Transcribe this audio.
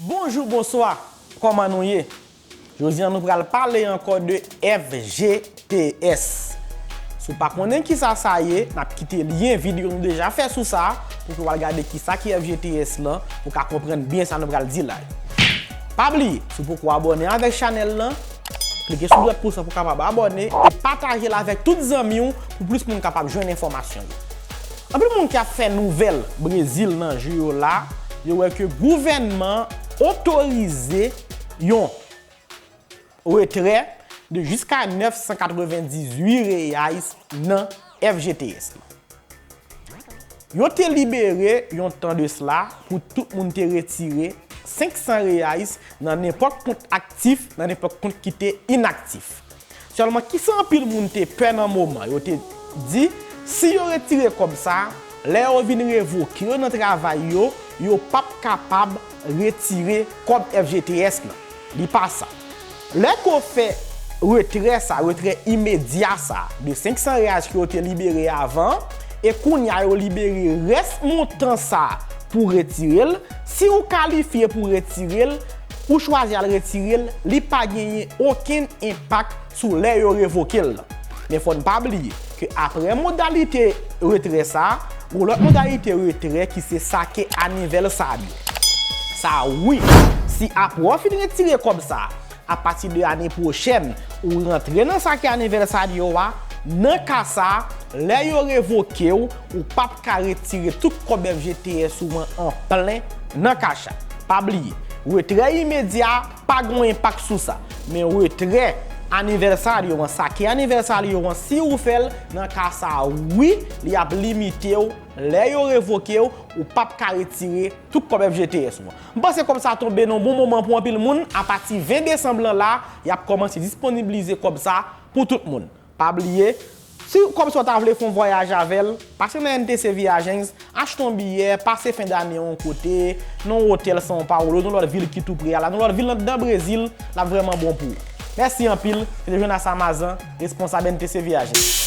Bonjou bonswa kòman nou ye jodi an nou pral pale ankò de FGTS si w pa konnen kisa sa ye nap kite lyen videyo nou deja fè sou sa pou ke w al gade kisa ki FGTS lan pou w ka konprann byen sa nou pral di la yo pa bliye si w poko abòne avèk chanèl lan klike sou dwèt pous la pou w kapab abòne e pataje l avèk tout zanmi w pou plis moun kapab jwenn enfòmasyon yo. Anpil moun ki ap fè nouvèl Brezil nan jou yo la, yo wè ke gouvènman an otorize yon retrè de jiska 998 reais nan FGTS la. Yo te libere yon tan de sla pou tout moun te retire 500 reais nan nenpòt kont aktif nan nenpòt kont ki te inaktif. Sèlman kisa anpil moun te pè nan moman yo te Di si yo retire kòb sa lè yo vin revoke yo nan travay yo yo pap kapab retire kòb FGTS nan li pa sa lè ko fè retrè sa retrè imedya sa de 500 reais ke yo te libere avan an e kounya yo libere rès montan sa pou retirel si ou kalifye pou retirel Ou chwazi al retire l, li pa genyen okenn enpak sou lè yo revoke l lan. Men fò n pa bliye ke apre modalite retrè sa a, g'on lòt modalite retrè ki se sake anivèlsad yo. Sa a wi, si apre w fin retire kòb sa a, apati de ane pwochèn, ou rantre nan sake anivèlsad yo a, nan ka sa a, lè yo revoke w, ou p ap. ka retire tout kòb FGTS ou an an plen nan cash app. Pa bliye, retrè imedya a pa gon enpak sou sa, men retrè anivèsario an, sa ki anivèsario an, si ou fè l, nan ka sa a wi, li ap limite w, lè yo revoke w, ou p ap ka retire tout kòb FGTS ou an. M panse kòb sa tonbe nan bon moman pou anpil moun, apati 20 desanm lan la, y ap kòmanse disponiblize kòb sa pou tout moun. Pa bliye, si ou kòmsi ou ta vle fè yon vwayaj avè l, pase nan NTC Viagens, achte yon biyè, pase fen dane yon kote, nan yon otèl São Paulo, nan yon lòt vil ki tou pre a la, nan yon lòt vil anndan Brezil, l ap vrèman bon pou ou. Mèsi anpil, se te Jonas Amazan, responsab NTC Viagens.